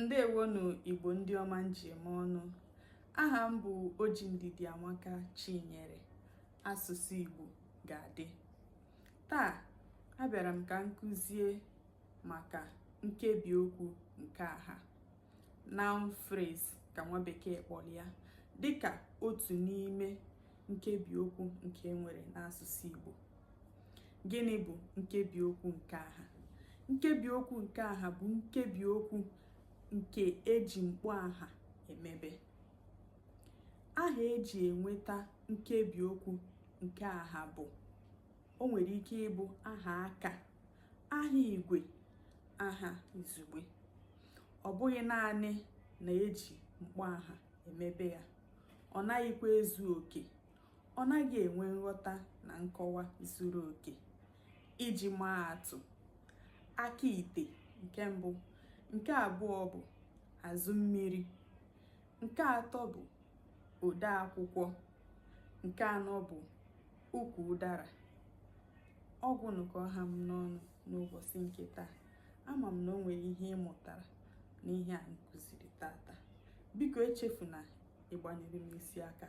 ndewo nụ igbo ndị ọma m ji eme ọnụ aha m bụ oji ndidiamaka chinyere asụsụ igbo ga-adị taa abịara m ka m kụzie maka nkebi okwu nke aha noun phrase ka nwa bekee kpọrọ ya dịka otu n'ime nkebi okwu nke e nwere n'asụsụ igbo gịnị bụ nkebi okwu nke aha nkebi okwu nke aha bụ nkebi okwu nke e ji mkpọ aha emebe aha e ji enweta nkebi okwu nke aha bụ o nwere ike ịbụ aha aka aha igwe aha izugbe ọ bụghị naanị na e ji mkpọ aha emebe ya ọ naghịkwa ezu oke ọ naghị enwe nghọta na nkọwa zuru oke iji maa atụ aka ite nke mbụ nke abụọ bụ azụ mmiri nke atọ bụ ode akwụkwọ nke anọ bụ ukwu ụdara ọ gwụnụ ka ọ ha m n'ọnụ n'ụbọchị nke taa ama m na o nwere ihe ị mụtara n'ihe a m kụziri tata biko echefuna ịgbanyere m isi aka